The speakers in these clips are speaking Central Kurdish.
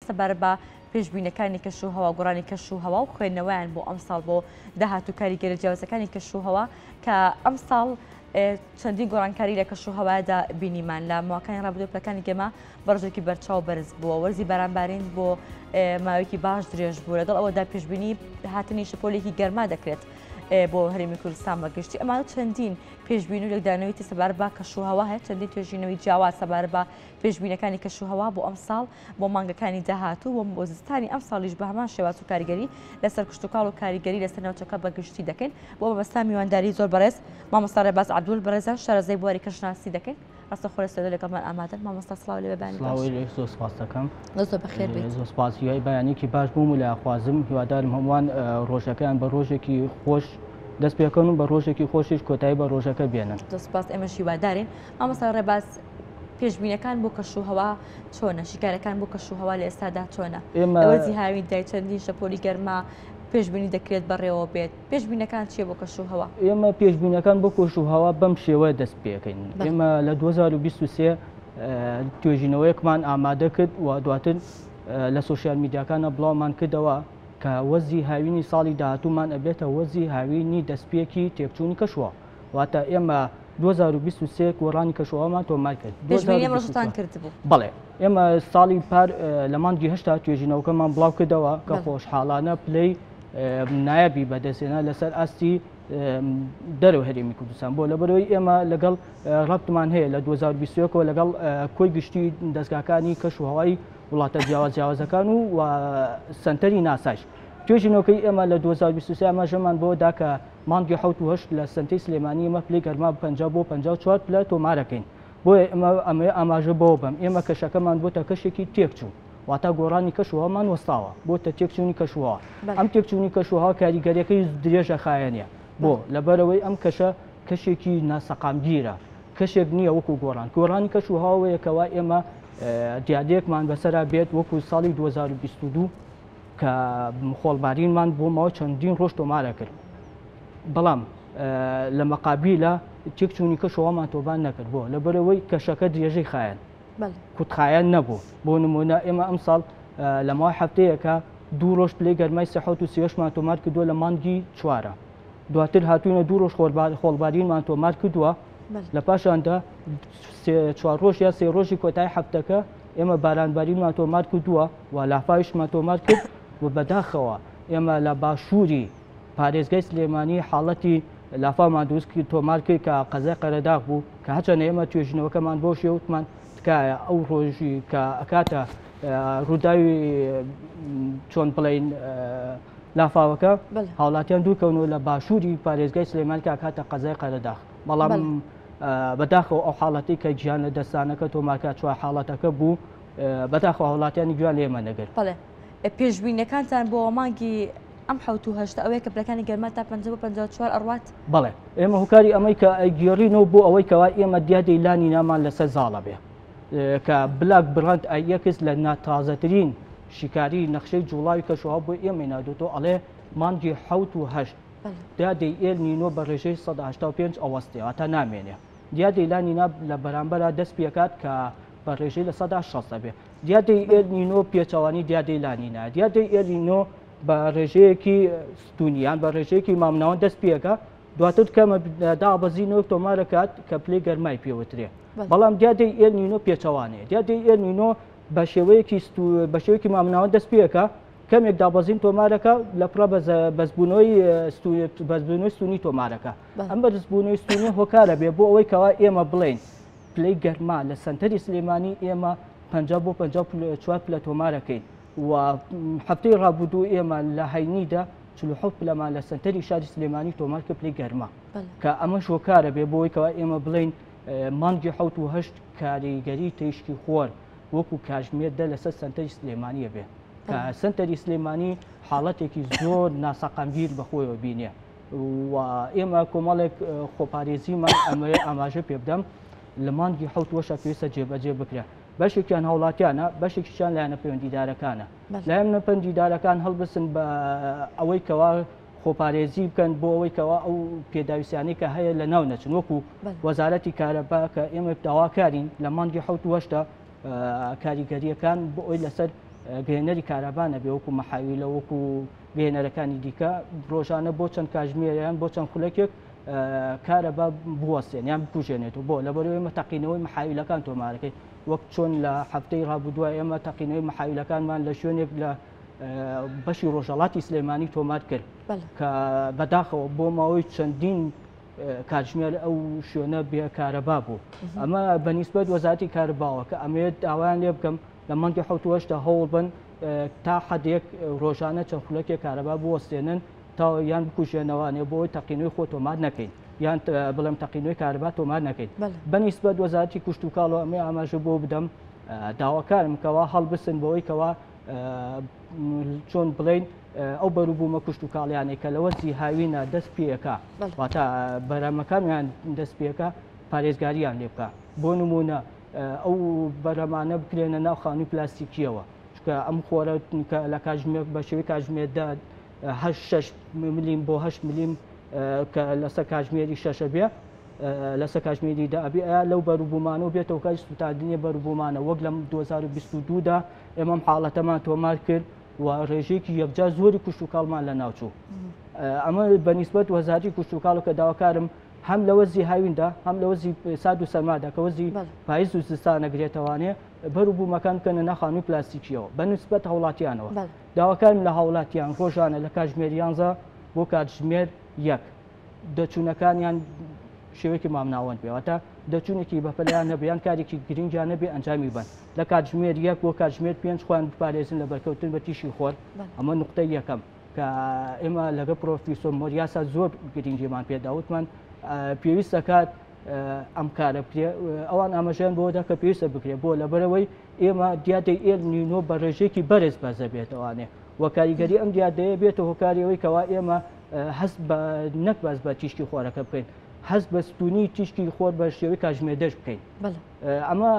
سەبارەت بە پێشبینەکانی کەش و هەوا گۆڕانی کەش و هەوا و خوێندنەوەیان بۆ ئەم ساڵ بۆ داهات و کاریگەرە جیاوازەکانی کەش و هەوا کە ئەم ساڵ چەندی گۆڕانکاری لە کەش و هەوادا بینیمان لە ماکانی ڕابدو پلەکانی گەمە بەڕژێکی بەرچاو بەرز بووە وەرزی بارانبارین بۆ ماوەیەکی باش درێژ بوو لەگەڵ ئەوەدا پێشببینی هاتنی شپۆلێکی گەرما دەکرێت بۆ هەرمی کوردستان بەگشتی ئەمان چەندین پێشببین و لەدانەوەی سەبار بە کەشوهوا هەیە چەندین توێژینەوەی جیاواز سەبار بە پێشببینەکانی کەشوهوا بۆ ئەم ساڵ بۆ مانگەکانی داهاتوو و بۆ زستانی ئەمساڵیش بە هەمان شێواز و کاریگەری لەسەر کشتوکاڵ و کاریگەری لەسەر ناوچەکە بە گشتی دەکەین. بۆ مەبەستان میوانداری زۆر بەڕێز مامۆستا ڕێباز عەبدول بەڕێزیان شارەزای بواری کەشناسی دەکەین. ڕاستە خۆ لە سوێدە لەگەڵمان ئامادەن. مامۆستا سڵاو لێ بە بەیانی باش. سڵاو لێک زۆر سپاست دەکەم. دەست زۆر بەخێر بیت. زۆر سپاس هیوای بەیانێکی باش بۆم و لایخوازم هیوادارم هەمووان ڕۆژەکەیان بە ڕۆژێکی خۆش دەست پێکەن و بە ڕۆژێکی خۆشیش کۆتایی بە ڕۆژەکە بێنن. زۆر سپاس ئێمەش هیوادارین. مامۆستا ڕێباز پێشبینەکان بۆ کەش و هەوا چۆنە شیکارەکان بۆ کەش و هەوا لە ئێستادا چۆنە ئێمەوەزی هاوین دای چەندین شەپۆلی گەرما پێشببینی دەکرێت بەڕێوە بێت پێشببینەکان چیە بۆ کەش و هەوا ئێمە پێشببینەکان بۆ کۆش و هەوا بەم شێوە دەست پێکەین ئێمە لە 2023 توێژینەوەیەکمان ئامادە کرد و دواتر لە سوسیال میدیاکانە بڵاومان کردەوە کە وەزی هاوینی ساڵی داهاتومان ئەبێتە وەزی هاوینی دەستپێکی تێکچوونی کەشوە واتە ئێمە 2023 گۆڕانی کەشوهەوامان تۆمار کرد. پێشبینی ئەم ڕۆژەتان کردبوو؟ بەڵێ، ئێمە ساڵی پار لە مانگی هەشتا توێژینەوەکەمان بڵاو کردەوە کە خۆشحاڵانە پلەی نایابی بەدەستێنا لەسەر ئاستی دەرەوە هەرێمی کوردستان بۆ لەبەرەوەی ئێمە لەگەڵ ڕەبتمان هەیە لە 2021ەوە لەگەڵ کۆی گشتی دەستگاکانی کەش و هەوای وڵاتە جیاواز جیاوازەکان و سنتەری ناسایش توێژینەوەکەی ئێمە لە 2023 ئەمە ژەمان بۆ داکە مانگی حەوت و هەشت لە سەنتەی سلێمانی ئێمە پلەی گەرما پەنجا بۆ پەنجا و چوار پلە تۆمارەکەین، بۆیە ئێمە ئەمەیە ئاماژە بەوە بەم ئێمە کەشەکەمان بۆتە کەشێکی تێکچوو، واتا گۆڕانی کەش و هەوامان وەستاوە بۆتە تێکچوونی کەش و هەوا، ئەم تێکچوونی کەش و هەوا کاریگەریەکەی درێژەخایەنە، بۆ؟ لەبەرئەوەی ئەم کەشە کەشێکی ناسەقامگیرە، کەشێک نییە وەکو گۆڕان، گۆڕانی کەش و هەوا ئەوەیە کەوا ئێمە دیاردەیەکمان بەسەرا بێت وەکو ساڵی دوو هەزار و بیست و دوو، کە خۆڵبارینمان بۆ ماوە چەندین ڕۆژ تۆمارە کرد بەڵام لە مەقابیلە تێکچوونی کەشەوەمان تۆبان نەکرد بۆ لە بەرەوەی کەشەکە درێژەی خایەن کوتخایەن نەبوو بۆ نمونە ئێمە ئەم ساڵ لە ماوە هەفتەیەەکە دوو ڕۆژ پلەی گەرمای سەحوت و سێشمان تۆمار کردووە لە مانگی چوارە دواتر هاتوونە دوو ڕۆژ خۆڵبارینمان تۆمار کردووە لە پاشاندا چوار ڕۆژ یا سێ ڕۆژی کۆتای هەفتەکە ئێمە بارانبارینمان تۆمار کردووە و لافاویشمان تۆمار کرد و بەداخەوە ئێمە لە باشووری پارێزگای سلێمانی حاڵەتی لافاومان دروست کرد تۆمار کرد کە قەزای قەرەداغ بوو کە هەچەنە ئێمە توێژینەوەکەمان بۆ شێوتمان تکایە ئەو ڕۆژی کە ئەکاتە ڕووداوی چۆن بڵین لافاوەکە هاوڵاتیان دوورکەونەوە لە باشووری پارێزگای سلێمان کە کاتە قەزای قەرەداغ بەڵام بەداخەوە ئەو حاڵەتی کە گیان لە دەستانەکە تۆماکە چوار حاڵەتەکە بوو بەداخەوە هاوڵاتیانی گوێیان لە ئێمە نەگرت. بەڵێ پێشبینەکانتان بۆ مانگی ئەم حوت و هەشت ئەوەیە کە پلەکانی گەرما تا 50 بۆ 54 ئەڕوات بەڵێ ئێمە هوکاری ئەمەی کە ئەگێڕینەوە بۆ ئەوەی کەوا ئێمە دیادەی لانی نامان لەسەر زاڵە بێ کە بلاک بڕند ئایەکس لە ناتازەترین شیکاری نەخشەی جوڵاوی کەشوها بۆ ئێمە نادوتۆ ئەڵێ مانگی حوت و هەشت دیادەی ئێل نینۆ بە ڕێژەی 1970 ئەوەستێەوە تا نامێنێ دیادەی لانی ناب لە بەرامبەرە دەست پێکات کە بە ڕێژەی لە سەدا شەست دەبێت دیادەی ئێل نینۆ پێچەوانی دیادەی لانینا دیادەی ئێل نینۆ بە ڕێژەیەکی ستونیان بە ڕێژەیەکی مامناوان دەست پێەکە دواتر کەمە دابەزین و تۆمارەکات کە پلی گەرمای پێوترێ بەڵام دیادەی ئێل نینۆ پێچەوانێ دیادەی ئێل نینۆ بە شێوەیەکی بە شێوەیەکی مامناوان دەست پێەکە کەمێک دابەزین تۆمارەکە لە پڕە بەزبوونەوەی بەزبوونەوەی سونی تۆمارەکە ئەم بەرزبوونەوەی سونی هۆکارە بێ بۆ ئەوەی کەوا ئێمە بڵین پلەی گەرما لە سەنتەری سلێمانی ئێمە پەنجا بۆ پەنجا چوار پلە تۆمارەکەین و هەفتەی ڕابردوو ئێمە لە هەینیدا چل و حەوت پلەمان لە سەنتەری شاری سلێمانی تۆمار کە پلەی گەرما بەڵێ کە ئەمەش هۆکارە بێ بۆی کەوا ئێمە بڵێین اه، مانگی حەوت و هەشت کاریگەری تیشکی خۆر وەکو کاژمێر دە لەسەر سەنتەری سلێمانیە بێ کە بەڵێ. سەنتەری سلێمانی حاڵەتێکی زۆر ناسەقامگیر بەخۆیەوە بینێ و ئێمە کۆمەڵێک خۆپارێزیمان ئەمەیە ئاماژە پێ بدەم لە مانگی حوت وەشە پێویستە جێبەجێ بکرێن بەشێکیان هاوڵاتیانە بەشێکیان لایەنە پەیوەندیدارەکانە لایەنە پەندیدارەکان هەڵبسن بە ئەوەی کەوا خۆپارێزی بکەن بۆ ئەوەی کەوا ئەو پێداویستیانی کە هەیە لە ناو نەچن وەکو وەزارەتی کارەبا کە ئێمە داواکارین لە مانگی حوت وەشتا کاریگەریەکان بۆ ئەوی لەسەر گەێنەری کارەبانە بێ وەکو مەحاوی لە وەکو بینەرەکانی دیکە ڕۆژانە بۆ چەند کاژمێریان بۆ چەند خولەکێک کارەبا بوەستێن یان بکوژێنێت و بۆ لەبەرەوەی مە تەقینەوەی محاویلەکان تۆمارەکەی وەک چۆن لە هەفتەی ڕابدووە ئێمە تەقینەوەی محاویلەکانمان لە شوێنێک لە بەشی ڕۆژەڵاتی سلێمانی تۆمار کرد کە بەداخەوە بۆ ماوەی چەندین کاتژمێر ئەو شوێنە بێکارەبا بوو ئەمە بەنیسبەت وەزاتی کارباوە کە ئەمەوێت داوایان لێ بکەم لە مانگی حەوتوەشدا هەوڵ بن تا حەدێک ڕۆژانە چەند خولەکێک کارەبا بوەستێنن تا یان بکوژێنەوانێ بۆی تەقینەوەی خۆ تۆمار نەکەین یان بڵێم تەقینەوەی کارەبا تۆمار نەکەین بەنیسبەت وەزارتی کوشتتوکاڵەوە ئەمە ئاماژە بۆ بدەم داواکارم کەوا هەڵبسن بەوەی کەوا چۆن بڵین ئەو بەروبوومە کوشت و کاڵیانێک کە لەوە زیهاوینە دەست پێەکە واتە بەرامەکانیان دەست پێەکە پارێزگاریان لێ بکە بۆ نموونە ئەو بەرەمانە بکرێنە ناو خانووی پلاستیکیەوە چکە ئەم خۆرە لە کاژمێر بە شێوی کاژمێردا ملیم بۆ هەش ملیم کە لەسەر کاژمێری شەشە بێ لەسەر کاژمێری دابێ لەو بەروبوومانەوە بێتەوە کەش سوتاندنی بەروبوومانە وەک لەم 2022دا ئێمەم حاڵەتەمان تۆمار کرد و ڕێژەیەکی یەکجا زۆری کوشتتوکڵمان لە ناوچوو ئەمە بەنیسبەت وەزاری کوشتتوکڵ کە داواکارم هەم لە وەرزی هاویندا هەم لە وەرزی سارد و سەرمادا کە وەرزی پایز و زستانە گرێتەوانێ بەر و بوومەکان بکەنە ناخان و پلاستیکیەوە بە نسبەت هاوڵاتیانەوە داواکارم لە هاوڵاتیان ڕۆژانە لە کاتژمێر یانزە بۆ کاتژمێر یەک دەچوونەکانیان شێوەیەکی مامناوەند بێوەتە دەچوونێکی بەپەلیان نەبیان کارێکی گرنگیان نەبێ ئەنجامی بن لە کاتژمێر یەک بۆ کاتژمێر پێنج خۆیان بپارێزن لە بەرکەوتن بە تیشی خۆر ئەمە نقطەی یەکەم کە ئێمە لەگە پرۆفیسۆر مۆریاسا زۆر گرنگیمان پێدا وتمان پێویست دەکات ئەم کارە بکرێ ئەوان ئاماژیان بۆ دەکە پێویستە بکرێت بۆ لەبەرەوەی ئێمە دیادەی ئێل نینۆ بە ڕێژێکی بەرز بەزە بێتوانێ و کاریگەری ئەم دیادەیە بێتە هۆکاریەوەی کەوا ئێمە هەست بە نەک بەس بە تیشکی خۆرەکە بکەین هەست بە ستونی تیشکی خۆر بە شێوەی کاژمێدەش بکەین ئەمە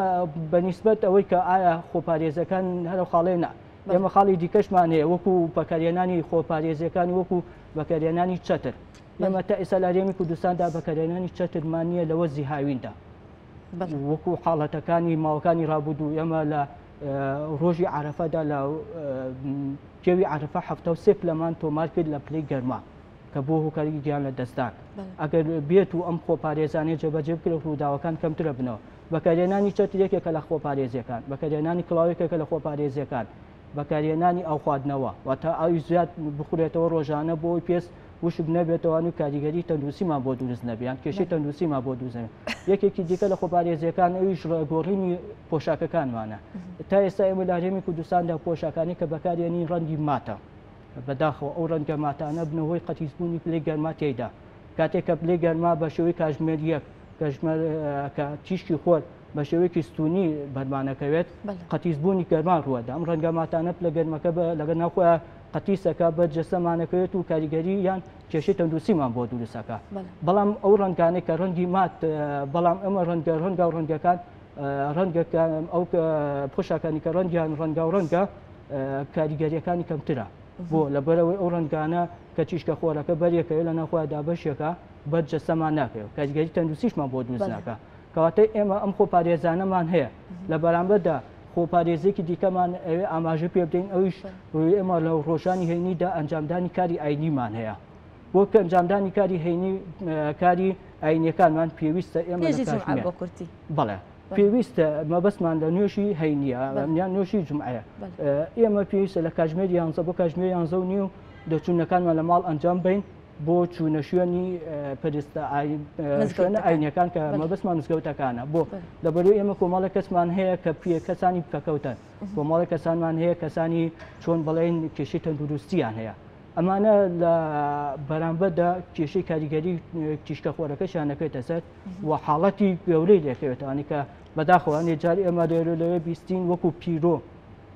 بەنیسبەت ئەوەی کە ئایا خۆپارێزەکان هەرە خاڵێ نا ئێمە خاڵی دیکەشمان هەیە وەکو بەکارهێنانی خۆپارێزیەکان وەکو بەکارهێنانی چەتر ئێمە تا ئێستا لارێمی کوردستاندا بەکارهێنانی چەترمان نییە لەوە زیهاویندا وەکو حاڵەتەکانی ماوەکانی رابودوو ئێمە لە ڕۆژی عرفەدا لە کێوی عرفە ه سێ پلەمان تۆمار کرد لە پلی گەرما کە بۆ هۆکاری گیان لە دەستدان ئەگەر بێت و ئەم خۆپارێزانانی جێبەجێ بکرێت ڕووداوەکان کەمترە بنەوە بەکارهێنانی چەتر یەکێکە لە خۆپارێزییەکان، بەکارهێنانی کڵاو یەکێکە لە خۆپارێزییەکان، بەکارهێنانی ئاو خواردنەوە، واتە ئاوی زیاد بخورێتەوە ڕۆژانە بۆی پێست وشک نەبێتەوە و کاریگەری تەندروستیمان بۆ دروست نەبێ یان کێشەی تەندروستیمان بۆ دروست نەبێ یەکێکی دیکە لە خۆپارێزیەکان ئەویش ڕێگۆڕینی پۆشاکەکانمانە تا ئێستا ئێمە لە هەرێمی کوردستاندا پۆشاکانی کە بەکارێنی ڕەنگی ماتە بەداخەوە ئەو ڕەنگە ماتانە بنە هۆی قەتیسبوونی پلەی گەرما تێیدا. کاتێک کە پلەی گەرما بە شێوەی کاژمێر یەک کە تیشکی خۆر بە شێوەیەکی ستونی بەرمانەکەوێت قەتیسبوونی گەرما ڕووەدا ئەم ڕەنگە ماتانە پلە گەرمەکە لەگە ناخۆیان قەتیسەکە بە جەسەمانەکەوێت و کاریگەری یان کێشی تەندروسیمان بۆ دروستەکە بەڵام ئەو ڕەنگانێک کە ڕەنگی مات بەڵام ئەمە ڕەنگە ڕەنگە و ڕەنگەکان ڕەنگەکە ئەو پۆشاکانی کە ڕەنگیان ڕەنگە و ڕەنگە کاریگەریەکانی کەمترە بۆ لەبەرەوەی ئەو ڕنگانە کە چیشکە خۆرەکە بەرێکەوە لە ناخوا دابەشێکە بەر جەسەمان ناکەێت کاریگەری تەندروستیشمان بۆ دووزناکە کەواتە ئێمە ئەم خۆ پارێزانەمان هەیە لە بەرامبەردا خۆپارێزێکی دیکەمان ئەوێ ئاماژە پێ بدەین ئەویش ڕوی ئێمە لە ڕۆژانی هەینیدا ئەنجامدانی کاری ئاینیمان هەیە بۆ کە ئەنجامدانی کاری هەینی کاری ئاینەکانمان پێویستە ئێمە بۆ کورتی بەڵێ پێویستە مەبەستمان لە نوێژی هەینە یان نوێژی جمعەیە ئێمە پێویستە لە کاژمێر یانزە بۆ کاژمێر یانزە و نیو دەچوونەکانمان لە ماڵ ئەنجام بین بۆ چوونە شوێنی پرستە شوێنە ئاینەکان کە مەبەستمان نزگەوتەکانە بۆ لەبەروی ئێمە کۆمەڵە کەسمان هەیە کە پێ کەسانی بکەکەوتن کۆمەڵە کەسانمان هەیە کەسانی چۆن بڵێن کێشی تەندروستیان هەیە ئەمانە لە بەرامبەردا کێشەی کاریگەری تیشکە خۆرەکەشیان نەکەێتە سەر و حاڵەتی گەورەی لێکەوێتانی کە بەداخەوەنی جار ئێمە لێرو لەوێ بیستین وەکو پیرۆ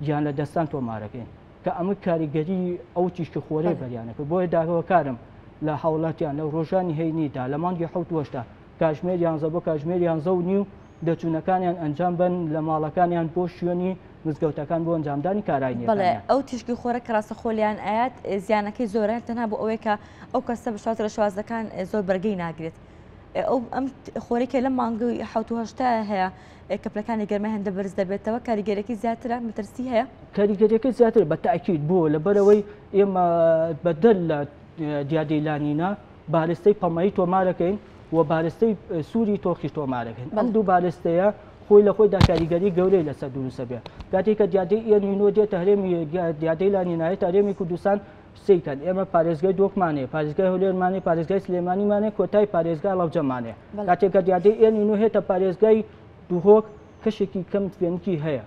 گیان لە دەستان تۆمارەکەین کە ئەمە کاریگەری ئەو تیشکی خۆرەی بەریانەکە بۆیە داهەوەکارم لە هاوڵاتیان لە ڕۆژانی هەینیدا لە مانگی حوت وەشتا کاژمێر یانزە بۆ کاژمێر یانزە و نیو دەچوونەکانیان ئەنجام بن لە ماڵەکانیان بۆ شوێنی مزگەوتەکان بۆ ئەنجامدانی کارانی بڵێ ئەو تیشکی خۆرە کراستە خۆلیان ئاات زیانەکەی زۆرە تەنها بۆ ئەوەیە کە ئەو کەسە بشوات لە شوازەکان زۆر بەرگی ناگرێت ئەو ئەم خۆرێکە لە مانگەوەی حوتهشتا هەیە کەپلەکانی گەرمە هەندە بەرز دەبێتەوە کاریگەرەکەی زیاترە مەترسی هەیە کاریگەریەکە زیاتر بە تاکیید بووە لە بەرەوەی ئێمە بەدەر لە دیادەی لانینا بارستەی پەمەیی تۆمارەکەین و بارستەی سووری تۆخی تۆمارەکەین بەم دوو بارستەیە خۆی لە خۆیدا کاریگەری گەورەی لەسەر دروستە بێت کاتێککە دیادەی ئێنینۆ دێتە هەرێمی دیادەی لانینایە هەرێمی کوردستان قسەی کەن ئێمە پارێزگای دۆکمانێ پارێزگای هەولێرمانێ پارێزگای سلێمانیمانێ کۆتای پارێزگا ڵەوجەمانێ کاتێکە دیادەی ئێن و هێتە پارێزگای دوهۆک کەشێکی کەم فێنکی هەیە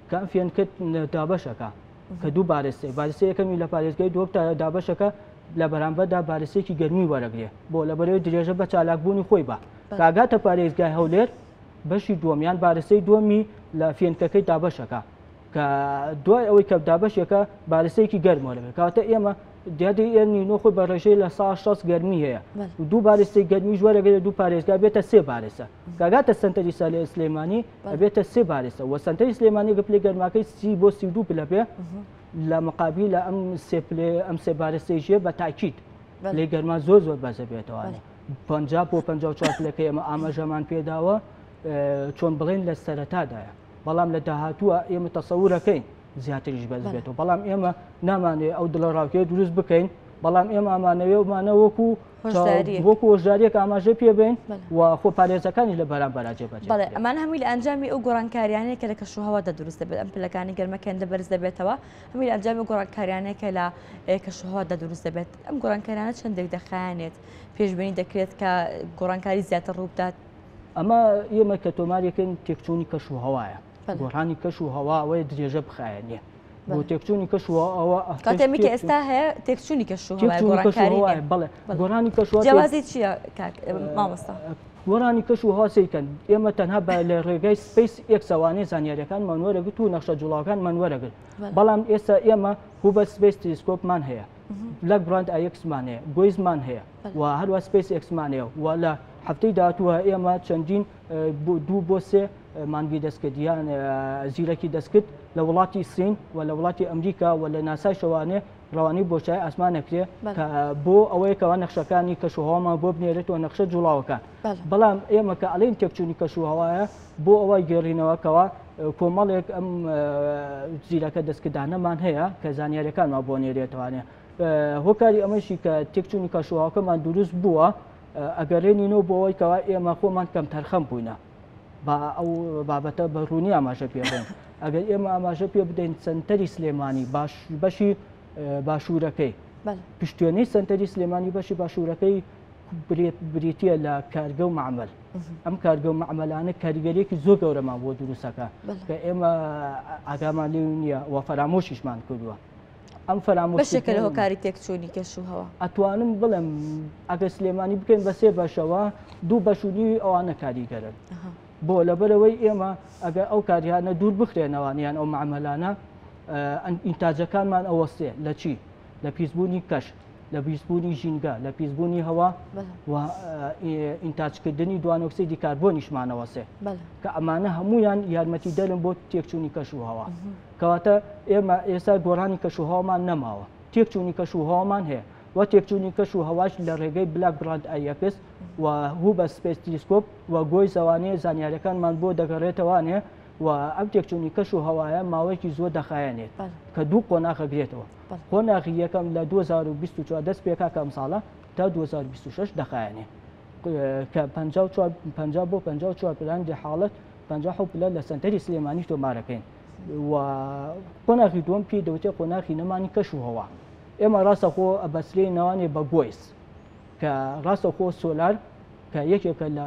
کە ئەم فێنکت دابەشەکە کە دوو بارستێ بارستە یەکەمی لە پارێزگای دۆک تا دابەشەکە لە بەرامبەردا بارستێکی گەرمی وەرەگرێ بۆ لە بەرەوەی درێژە بە چالاکبوونی خۆی بە کاگاتە پارێزگای هەولێر بەشی دووەمیان بارستەی دووەمی لە فێنکەکەی دابەشەکە کە دوای ئەوەی کە دابەشێکە بالستێکی گەرمەوە لەبێت کاتە ئێمە دیادی ئێرنی نۆ خۆی بە ڕێژەی لە سا شەست گەرمی هەیە دوو بالستی گەرمی ژوەرەگەێت دوو پارێزگا بێتە سێ بارێسە کاگاتە سنتەری سا لە سلێمانی بێتە سێ بارێسە و سنتەری سلێمانی گەپلی گەرماکەی سی بۆ سی دوو پلە بێ لە مقابی لە ئەم سێ پلێ ئەم سێ بارستەی ژێ بە تاکیت لێ گەرما زۆر زۆر بەزە بێتەوانێت پ بۆ پ چوار پلەکە ئێمە ئاماژەمان پێداوە چۆن بڵێن لە سەرەتادایە بەڵام لە داهاتووە ئێمە تەسەورەکەین زیاتریش بەز بێتەوە بەڵام ئێمە نامانێ ئەو دڵە ڕاوکێ دروست بکەین بەڵام ئێمە ئامانەوێ ومانە وەکو وەکو هۆشداریەک ئاماژە پێبین و خۆ پارێزەکانی لە بەرام بەراجێ بەێت بەڵێ ئەمان هەمووی لە ئەنجامی ئەو گۆڕانکاریانەیە کە لە کەش و هەوادا دروست دەبێت ئەم پلەکانی گەرمەکەن لە بەرز دەبێتەوە هەمووی ئەنجامی گۆڕانکاریانەکە لە کەش و هەوادا دروست دەبێت ئەم گۆڕانکاریانە چەندێک دەخایانێت پێشبینی دەکرێت کە گۆڕانکاری زیاتر ڕووبدات ئەمە ئێمە کە تۆمارەکەن تێکچوونی کەش و هەوایە گۆڕانی کەش و هەوا ئەوەیە درێژە بخایە نیە بۆ تێکچوونی کەش و ئەوە ئەتێمی کە ئێستا هەیە تێکچوونی کەش و بڵێ گۆرانی کەش جیازی چییە مامۆستا گۆرانی کەش و هاسەیکەن ئێمە تەنها بە لە ڕێگای سپیس ئەکسەوانەی زانیاریەکان منوەرەگرت و نەخشە جوڵاوەکان منوەرەگرت بەڵام ئێستا ئێمە هو بە سپیس تلیسکۆپمان هەیە لە گرند ئایکسمان هەیە گۆیزمان هەیە و هەروە سپیس ئێکسمان هەیە و لە هەفتەی داهاتووە ئێمە چەندین دوو بۆ سێ مانگی دەستکرد یان زیرەکی دەستکرد لە وڵاتی سین و لە وڵاتی ئەمریکا و لە ناسای شەوانێ ڕەوانی بۆشای ئاسمان نەکرێ بۆ ئەوەیە کەوا نەخشەکانی کەشوهواما بۆ بنێرێتەوە نەخشە جوڵاوەکان بەڵام ئێمە کە ئەڵین تێکچوونی کەشوهوایە بۆ ئەوە گێڕینەوەکەوە کۆمەڵێک ئەم زیرەکە دەستکردانەمان هەیە کە زانیارەکانمان بۆ نێرێتوانێت هۆکاری ئەمەشی کە تێکچوونی کەشوهاوکەمان دروست بووە ئەگەرێنینەوە بۆەوەی کەوا ئێمە خۆمان کەم تەرخەم بووینە با ئەو بابەتە بە ڕوونی ئاماژە پێڵێن ئەگەر ئێمە ئاماژە پێ بدەین سنتەری سلێمانی باش بەشی باشوورەکەی پشتێنەی سنتەری سلێمانی بەشی باشوورەکەی بریتە لە کارگە و معمل ئەم کارگە و معملانە کاریگەریەکی زۆر گەورەمان بۆ دروستەکە کە ئێمە ئاگامان لێ نییە و فەرامۆشیشمان کردووە ئەم فەرامۆش بەشێکە لە هۆکاری تێکچوونی کەش و هەوا ئەتوانم بڵێم ئەگەر سلێمانی بکەین بە سێ بەشەوە دوو بەشودیوی ئەوانە کاریگەرن بۆ لەبەرەوەی ئێمە ئەگەر ئەو کاریانە دوور بخرێنەوانیان ئەو معمەلانە ئینتاجەکانمان ئەوەستێ لە چی لە پیسبوونی کەش لە پیسبوونی ژینگە لە پیسبوونی هەوا و ئینتاجکردنی دوانۆکسی دیکاربۆنیشمانەوەسێ کە ئەمانە هەمویان یارمەتی دەرم بۆ تێکچوونی کەش و هەوا کەواتە ئێمە ئێستا گۆڕانی کەشوهەوامان نەماوە، تێکچوونی کەشوهەوامان هەیە و تێکچوونی کەشوهەواش لە ڕێگەی بلاک براند ئایەکس و هوبە سپێس تلیسکۆپ و گۆی زەوانەیە زانیارییەکانمان بۆ دەگەڕێتەوانێ و ئەم تێکچوونی کەشوهەوایە ماوەیەکی زۆر دەخایەنێت کە دوو قۆناغ ئەگرێتەوە، قۆناغی یەکەم لە دوو هەزار و بیست و چوار دەست پێکاکە ئەمساڵە تا دوو هەزار و بیست و شەش دەخایەنێ کە پەنجا و چوار پەنجا بۆ پەنجا و چوار پلە هەندێ حاڵەت پەنجا و حەوت پلە لە سەنتەری سلێمانی تۆمارەکەین. و قۆناخی دووەم پێی دەوتێ قۆناخی نەمانی کەش و هەوا ئێمە ڕاستەخۆ ئەبەسرێ ناوانێ بە گۆیس کە ڕاستەخۆ سۆلار کە یەکێکە لە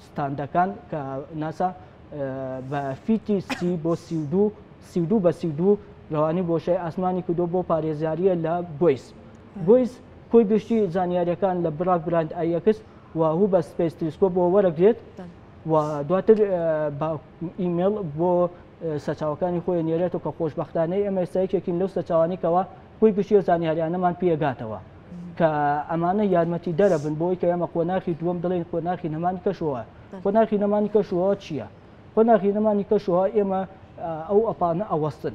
ستاندەکان کە ناسا بە فیتی سی بۆ سی دو سی دو بە سی دو ڕەوانی بۆشای ئاسمانی کردو بۆ پارێزیاریە لە گۆیس گۆیس کۆی گشتی زانیاریەکان لە براک براند ئایەکس و هو بە سپیس تلسکۆ بۆ وەرەگرێت و دواتر ئیمێڵ بۆ سەرچاوەکانی خۆی نێرێتەوە کە خۆشببختانەی ئەمە ئێستا یەکێکین لەو سەرچاوانیکەوە بۆی گشتی و زانیاریانەمان پێگاتەوە کە ئەمانە یارمەتی دەرە بن بۆی کە ئێمە قۆناخی دووەم دڵێن قۆناخی نەمانی کەشەوە قۆناخی نەمانی کەشەوە چییە؟ قۆناخی نەمانی کەشەوە ئێمە ئەو ئەپانە ئەوەستن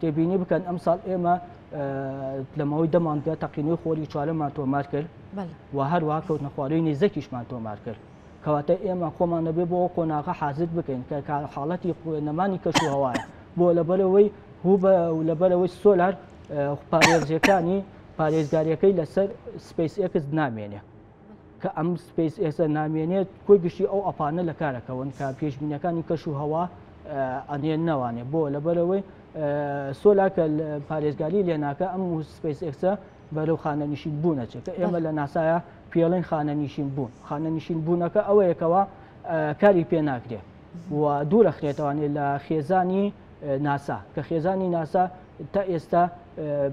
تێبینی بکەن ئەمساڵ ئێمە لەمەوەی دەمانگە تەقینەوەی خۆری چوارەمان تۆمار کرد و هەروە کەوتنە خوارەوەی نێزەکیشمان تۆمار کرد کەواتە ئێمە خۆمان نەبێ بۆ قۆناغە حازر بکەین کە حاڵەتی نەمانی کەش و هەوایە بۆ لەبەرەوەی هو بە لەبەرەوەی سۆلار پارێزیەکانی پارێزگاریەکەی لەسەر سپیس ئەکس نامێنێ کە ئەم سپیس ئێسە نامێنێت کۆی گشتی ئەو ئەپانە لە کارەکەون کە پێشبینەکانی کەش و هەوا ئەنێن نەوانێ بۆ لەبەرەوەی سۆلاکە پارێزگاری لێناکە ئەم سپیس ئێکسە بەرەو خانە نشین بوونە چێت ئێمە لە ناسایە پێڵین خانە نشین بوون خانە نشین بوونەکە ئەوەیەکەوە کاری پێ ناکرێت و دوورەخرێتوانێت لە خێزانی ناسا کە خێزانی ناسا تا ئێستا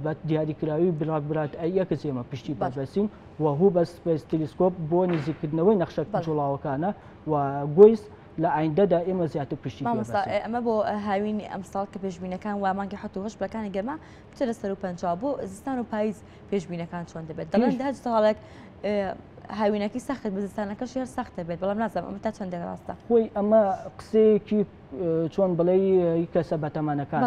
بە دیاریکراوی بلاک برات ئەیەکس ئێمە پشتی بەبەسین و هو بە سپیس تلیسکۆپ بۆ نزیکردنەوەی نەخشە جوڵاوەکانە و گویس لە ئایندەدا ئێمە زیاتر پشتی ئەمە بۆ هاوینی ئەمساڵ کە پێشبینەکان وا مانگی حوت هەش بەکانی گەرما بچە لە سەر و پنج بۆ زستان و پاییز پێشبینەکان چۆن دەبێت دەڵێن هەر ساڵێک هاوینەکەی سەخت بزستانەکە شێر سەختە بێت بەڵام نازم ئەمە تا چەندێک ڕاستە خۆی ئەمە قسەیەکی چۆن بڵێی کەسە بەتەمانەکان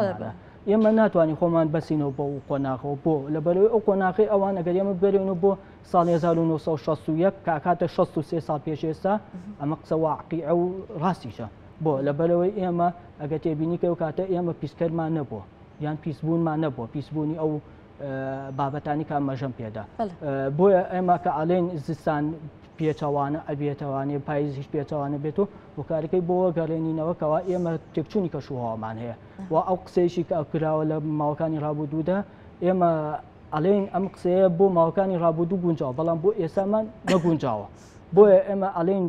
ئێمە ناتوانین خۆمان بەسینەوە بۆ و قۆناغەوە بۆ لە بەرەوەی ئەو قۆناغی ئەوان ئەگەر ئێمە بەرێنەوە بۆ ساڵ 1960 کاکاتە 63 ساڵ پێش ئێستا ئەمە قسە واقعی ئەو ڕاستیشە بۆ لە بەرەوەی ئێمە ئەگە تێبینی کە و کاتە ئێمە پیسکەرمان نەبووە یان پیسبوونمان نەبووە پیسبوونی ئەو بابەتانیکە مەژەم پێدا بۆیە ئێمە کە ئالین زستان پێچەوانە ئەبێتەوانێ پایزیش پێچەوانە بێت و وکارەکەی بۆ گەڕێنینەوەکەەوە ئێمە تێکچوونی کەشوهوامان هەیە و ئەو قسەیشی کە ئەکراوە لە ماوەکانی ڕابودوودا ئێمە ئەلین ئەم قسەیە بۆ ماوەکانی ڕابودوو گونجاوە بەڵام بۆ ئێسامان نەگونجاوە بۆیە ئێمە ئەلین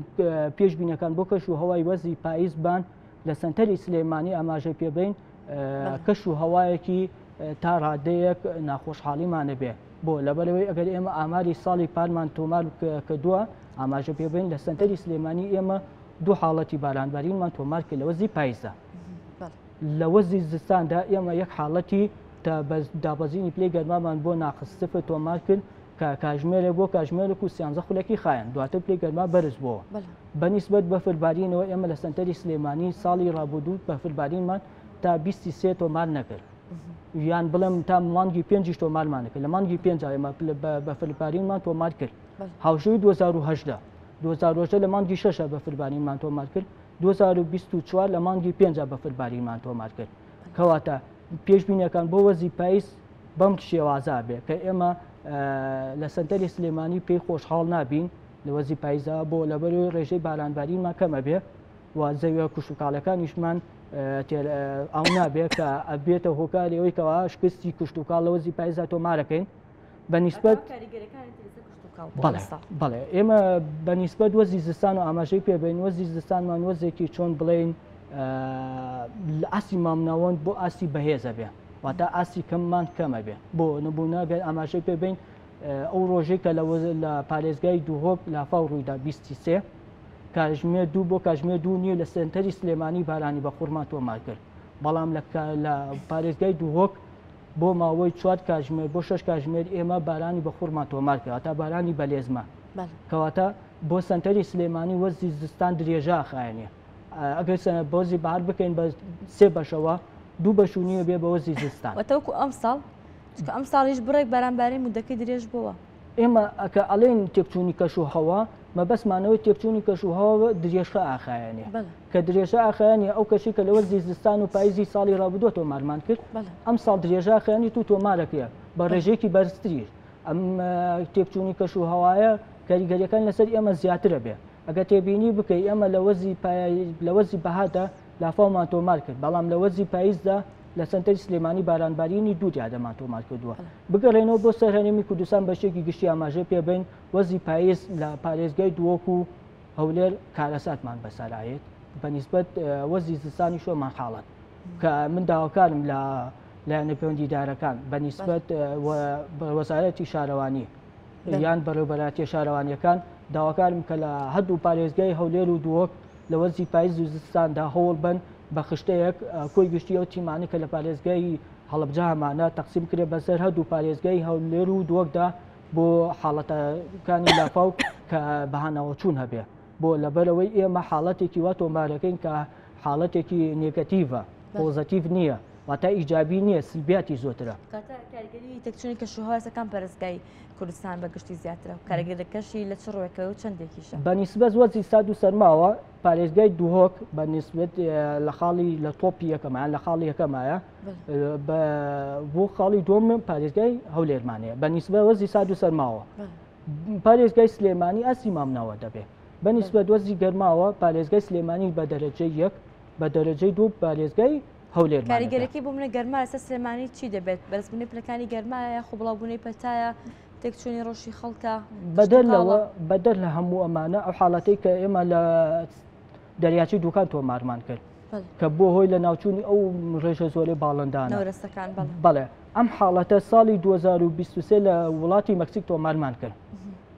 پێشببینەکان بۆ کەش و هەوای وەزی پاییزبان لە سنتەری سلێمانی ئاماژەی پێبین کەش و هەوایەکی تا ڕادەیەک ناخۆشحاڵیمانە بێ بۆ لەبەرەوەی ئەگەر ئێمە ئاماری ساڵی پارمان تۆمار کردووە ئاماژە پێبین لە سنتەری سلێمانی ئێمە دوو حاڵەتی بارانبارینمان تۆمار کرد لەوە زی پایزە لە وەزی زستاندا ئێمە یەک حاڵەتی دابەزینی پلی گەرمامان بۆ ناخستف تۆمار کرد کە کاژمێرە بۆ کاژمێرە و سیانزە خولەکی خایەن دواتر پلی گەرما بەرز بۆ بە نیسبەت بەفربارینەوە ئێمە لە سەنتەری سلێمانی ساڵی ڕابودوو بەفربارینمان تا 23 تۆمار نەکرد یان بڵێم تا مانگی پێنج تۆمارمانەکە لە مانگی پێنج ئێمە بەفربارینمان تۆمار کرد هاوشوی 2010 2010 لە مانگی شەشە بەفربارینمان تۆمار کرد 2024 لە مانگی پێنج بەفربارینمان تۆمار کرد کەواتە پێشبینەکان بۆ وەزی پایس بەم شێوازا بێ کە ئێمە لە سنتەری سلێمانی پێی خۆشحاڵ نابین لە وەرزی پایزدا بۆ لەبەرەوەی ڕێژەی بارانبارینمان کەمە بێ و زەویە کوشتتوکاڵەکانیشمان ئەو نابێت کە ئەبێتە هۆکاری ئەوی کەوا شکستی کوشتتوکال لە وەرزی پایزدا تۆمارەکەین بە نیسبەت بەڵێ ئێمە بە نیسبەت وەزی زستان و ئاماژەی پێبین وەزی زستانمان وەزێکی چۆن بڵین لە ئاسی مامناوەند بۆ ئاسی بەهێزە بێ واتە ئاسی کەممان کەمە بێ بۆ نبوونەگەر ئاماژەی پێبین ئەو ڕۆژەی کە لە پارێزگای دوهۆک لافاو ڕوویدا بیستی سێ کاژمێ دوو بۆ کاژمێ دوو نیو لە سنتەری سلێمانی بارانی بە خورما تۆمار کرد بەڵام لە پارێزگای دوهۆک بۆ ماوەی چوار کاژمێر بۆ شش کاژمێر ئێمە بارانی بە خورما تۆمار کرد تا بارانی بەلێزمە کەواتە بۆ سنتەری سلێمانی وەرزی زستان درێژە خایەنە ئەگەر سەنە بۆزی بار بکەین بە سێ بەشەوە دوو بەشونیە بێ بەوەزی زستان وەتەوەکو ئەمساڵ چونکە ئەمساڵیش بڕێک باران بارین مودەکەی درێژ بۆوە. ئێمە کە ئەڵێین تێکچوونی کەش و هەوا مەبەستمان ئەوەی تێکچوونی کەش و هەوا درێژە ئاخایەنێ کە درێژە ئاخایەنێ ئەو کەشی کە لە وەرزی زستان و پاییزی ساڵی ڕابردووە تۆمارمان کرد ئەم ساڵ درێژە ئاخایەنی تو تۆمارەکەیە بە ڕێژەیەکی بەرزتریش ئەم تێکچوونی کەش و هەوایە کاریگەریەکان لەسەر ئێمە زیاترە بێ ئەگە تێبینی بکەی ئێمە لە وەرزی لە وەرزی بەهادا لافاومان تۆمار کرد بەڵام لە وەرزی پاییزدا لە سنتەری سلێمانی بارانبارینی دوو دیادەمان تۆمار کردووە بگەڕێنەوە بۆ سەر هەرێمی کوردستان بەشێکی گشتی ئاماژە پێبین وەزی پاییز لە پارێزگای دووەکو و هەولێر کارەساتمان بەسەرایەت بەنیسبەت وەزی زستانی شۆمان حاڵەت کە من داواکارم لە لایەنە پەیوەندیدارەکان بەنیسبەت وەزارەتی شارەوانی یان بەڕێوبەراتیە شارەوانیەکان داواکارم کە لە هەردوو پارێزگای هەولێر و دووەک لە وەرزی پایز و زستاندا هەوڵ بەن بە خشتەیەک کۆی گشتی ئەو تیمانە کە لە پارێزگای هەڵبجە هەمانە تەقسیم کرێ بەسەر هەردوو پارێزگای هەولێر و دووەکدا بۆ حاڵەتەکانی لافاو کە بەهانەوە چوون هەبێ بۆ لەبەرەوەی ئێمە حاڵەتێکی وا تۆمارەکەین کە حاڵەتێکی نێگەتیڤە پۆزەتیڤ نییە واتا ئیجابی نییە سلبیاتی زۆترە تەکچونی کەشوهواسەکان پەرستگای کوردستان بە گشتی زیاترە و کارەگەرەکەشی لە چ ڕوێکەوە و چەندێکیشە بەنیسبەت وەزی ساد و سەرماوە پارێزگای دوهۆک بە نسبت لە خاڵی لە تۆپی یەکەمان لە خاڵی یەکەمایە بۆ خاڵی دۆم پارێزگای هەولێرمانەیە بە نیسبە وەزی ساد و سەرماوە پارێزگای سلێمانی ئەسی مامناوە دەبێت بە نیسبەت وەزی گەرماوە پارێزگای سلێمانی بە دەرەجە یەک بە دەرەجەی دوو پارێزگای هەولێر کاریگەرەکەی بۆ منە گەرما لەسەر سلێمانی چی دەبێت بەرزبوونی پلەکانی گەرمایە خۆ بڵاوبوونەی پەتایە تێکچوونی ڕۆژی خەڵکە بەدەر لەوە بەدەر لە هەموو ئەمانە ئەو حاڵەتی کە ئێمە لە دەریاچی دوکان تۆمارمان کرد کە بۆ هۆی لە ناوچوونی ئەو ڕێژە زۆری باڵندان بەڵێ ئەم حاڵەتە ساڵی 2023 لە وڵاتی مەکسیک تۆمارمان کرد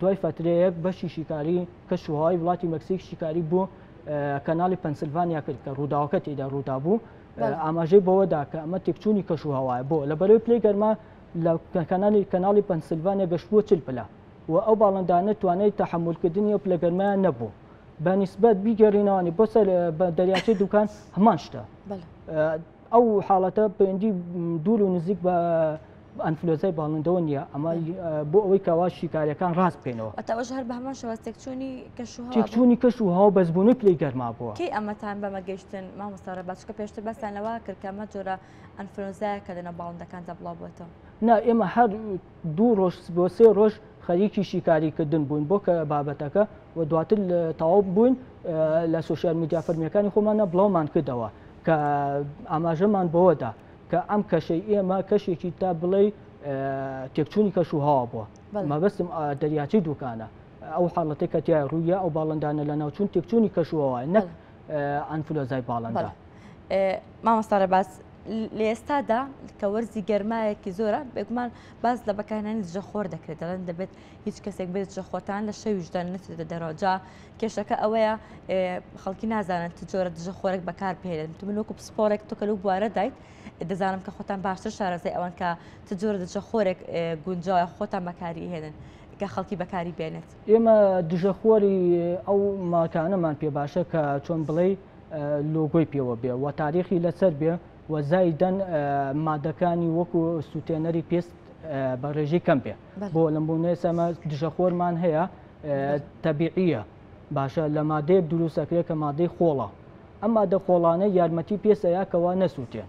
دوای فەترەیەک بەشی شیکاری کەش و هەوای وڵاتی مەکسیک شیکاری بۆ کەناڵی پەنسلڤانیا کرد کە ڕووداوەکە تێدا ڕوودا بوو ئاماژەی بەوەدا کە ئەمە تێکچوونی کەش و هەوایە بۆ لە بەرەوەی پلەی گەرما لە کەنالی کەناڵی پەنسلڤانیا گەشتبووە چل پلە و ئەو باڵندانە توانای تحملکردنی و پلە گەرمایان نەبوو بە نسبەت بیگەڕینەوانی بۆ سەر دەریاچەی دوکان هەمان شتە ئەو حاڵەتە پەیوەندی دوور و نزیک بە ئەنفلۆزای باڵندەوە نییە ئەمە بۆ ئەوەی کەوا شیکارەکان ڕاست بکەینەوە ئەتەوەش هەر بە هەمان شێوە تێکچوونی کەش و تێکچوونی کەش و هەوا بەزبوونی پلەی گەرما بووە کەی ئەمەتان بەمە گەشتن مامۆستاڕە باشکە پێشتر باسان لەوە کردکەمە جۆرە ئەنفلۆزایە کە دەنە باڵندەکان دەبڵاو بۆتەوە نا ئێمە هەر دوو ڕۆژ بۆ سێ ڕۆژ خەریکی شیکاریکردن بووین بۆ کە بابەتەکە و دواتر تەواو بووین لە سوسیال میدیا فەرمیەکانی خۆمانە بڵاومان کردەوە کە ئاماژەمان بەوەدا کە ئەم کەشەی ئێمە کەشێکی تا بڵێ تێکچوونی کەش و هاوا بووە مەبەستم دەریاچی دوکانە ئەو حاڵەتی کە تیا ڕوویە ئەو باڵندانە لە ناوچون تێکچوونی کەشوەوە نەک ئەنفلۆزای باڵندە مامۆستا ڕێباز لە ئێستادا کە وەرزی گەرمایەکی زۆرە بێگومان باز لە بەکارانی دژەخۆر دەکرێت دەڵێن دەبێت هیچ کەسێک بێت دژەخۆتان لە شەویشدان نچێتە دەرەوەجا کێشەکە ئەوەیە خەڵکی نازانن چ جۆرە دژەخۆرێک بەکار بهێنن تو من وەکو پسپۆرێک تۆکە لەو بوارە دایت دەزانم کە خۆتان باشتر شارەزای ئەوان کە چ جۆرە دژەخۆرێک گونجاوە خۆتان بەکاری هێنن کە خەڵکی بەکاری بێنێت. ئێمە دژە خۆری ئەو ماکانەمان پێ باشە کە چۆن بڵێ لۆگۆی پێوە بێ و تاریخی لەسەر بێ و زایدەن مادەکانی وەکو سووتێنەری پێست بە ڕێژی کەم بێ بۆ لەم بۆ نێسەمە دژە خۆرمان هەیە تەبیعیە باشە لە مادەیە دروستەکرێت کە مادەی خۆڵە ئەم مادە خۆڵانە یارمەتی پێسەیە کەوا نەسووتێن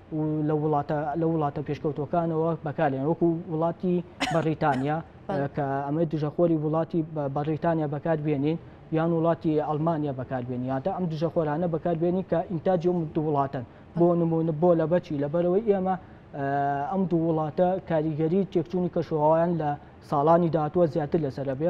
و لە وڵاتە لە وڵاتە پێشکەوتوەکانەوە بەکارێن وەکو وڵاتی بەڕیتانیا کە ئەمە دژەخۆری وڵاتی بەڕیتانیا بەکاربیێنین یان وڵاتی ئەلمانیا بەکاربیێن یادا ئەم دژەخۆرانە بەکاربیێنی کە ئینتاجی و دو وڵاتن بۆ نمونە بۆ لە بەچی لەبەرەوەی ئێمە ئەم دوو وڵاتە کاریگەری تێکچوونی کەشوهوایان لە ساڵانی داهاتوە زیاتر لەسەر بێ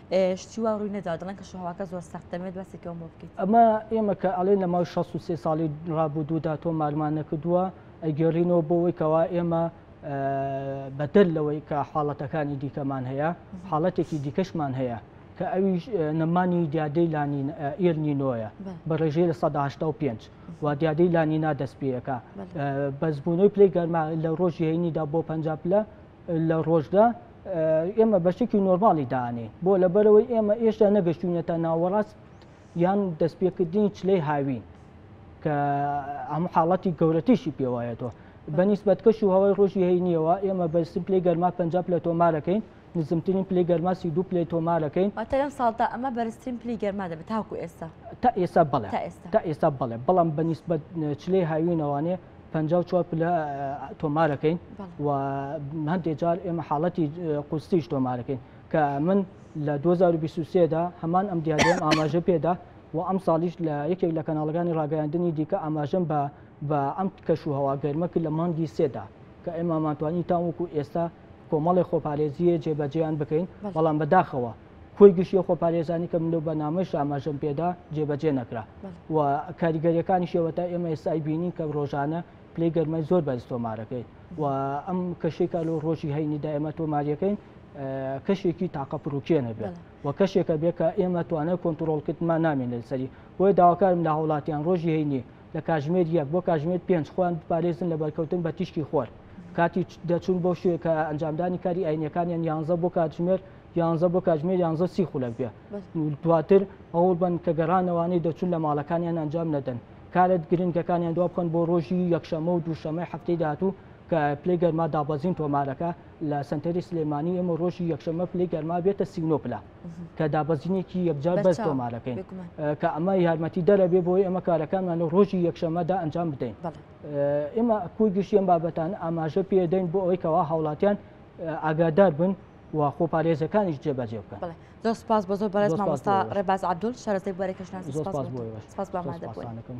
شتی وا ڕووی نەداوە، دەڵێن کەشوهەواکە زۆر سەختە، دەمەوێت باسێکی ئەوم بۆ بکەیت. ئەمە ئێمە کە ئەڵێن لە ماوەی شەست و سێ ساڵی ڕابوودوودا تۆمارمان نەکردووە، ئەیگێڕینەوە بۆ ئەوەی کەوا ئێمە بەدەر لەوەی کە حاڵەتەکانی دیکەمان هەیە، حاڵەتێکی دیکەشمان هەیە کە ئەویش نەمانی دیادەی لانین ئێل نینۆیە بە ڕێژەی لە سەدا هەشتا و پێنج و دیادەی لانینا دەست پێیەکە بەزبوونەوەی پلەی گەرما لە ڕۆژی هەینیدا بۆ پەنجا پلە لە ڕۆژدا ئێمە بەشێکی نۆرماڵی دانێ بۆ لەبەرەوەی ئێمە ئێشتا نەگەشتونەتە ناوەڕاست یان دەستپێکردنی چلەی هاوین کە ئەم حاڵەتی گەورەتیشی پێوایەتەوە بەنیسبەت کەش و هەوای ڕۆژی هەینیەوە ئێمە بەرسم پلی گەرما پ لە تۆمارەکەین نزمترین پلی گەرما سی دو پلی تۆمارەکەین لەم ساڵدا ئەمە بەرزترین پلی گەرما دەبێت تاکو ئێستا تا ئێستا بڵێ تا ئێستا بڵێ بەڵام بەنیسبەت چلەی هاوینەوانێ پەنجا و چوار پلە تۆمارەکەین و هەندێک جار ئێمە حاڵەتی قوستیش تۆمارەکەین کە من لە 2023دا هەمان ئەم دیادێن ئاماژە پێدا و ئەم ساڵیش لە یەکێک لە کەناڵەکانی ڕاگەیاندنی دیکە ئاماژەم بە بە ئەم کەش و هەوا گەرمە کرد لە مانگی سێدا کە ئێمەمانتوانی تاوەکو ئێستا کۆمەڵی خۆپارێزیە جێبەجیان بکەین بەڵام بەداخەوە کۆی گشتی خۆپارێزانی کە من لەو بەنامەش ئاماژەم پێدا جێبەجێ نەکرا و کاریگەریەکانی شێوەتا ئێمە ئێستای بینین کە ڕۆژانە پلی گەرمای زۆر بەرز تۆمارەکەی و ئەم کەشێکە لەو ڕۆژی هەینیدا ئێمە تۆماریەکەین کەشێکی تاقە پرروکێنە بێت و کەشێکە بێت کە ئێمە توانە کۆنتترۆڵکردمان نامێن لەسەری بۆیە داواکارم لە هاوڵاتیان ڕۆژی هەینی لە کاژمێر یەک بۆ کاژمێر پێنج خۆیان بپارێزن لە بەرکەوتن بە تیشکی خۆر کاتی دەچون بۆ شوێکە ئەنجامدانی کاری ئاینەکانیان یانزە بۆ کاتژمێر یانزە بۆ کاتژمێر یانزە سی خولەک بێ دواتر ئەوڵ بن کە گەڕانەوانەی دەچون لە ماڵەکانیان ئەنجام نەدەن کارت گرنگەکانیان دوا بکەن بۆ ڕۆژی یەکشەمە و دووشەمەی هەفتەی داهاتوو کە پلی گەرما دابەزین تۆمارەکە لە سنتەری سلێمانی ئێمە ڕۆژی یەکشەمە پلی گەرما بێتە سینۆ پلا کە دابەزینێکی یەکجار بەر تۆمارەکەین کە ئەمە یارمەتی دەرەبێ بۆی ئەمە کارەکانمان لە ڕۆژی یەکشەمەدا ئەنجام بدەین ئێمە کوی گشتیان بابەتان ئاماژە پێدەین بۆ ئەوەی کەوا هاوڵاتیان ئاگادار بن و خۆپارێزەکانیش جێبەجێ بکەن زۆر سپاس بە زۆر بەڕێز مامۆستا ڕێباز عبدول شارەزای بوارە کەشناسی سپاس بۆ ئێوەش سپاس بۆ ئامادەبوونەکەم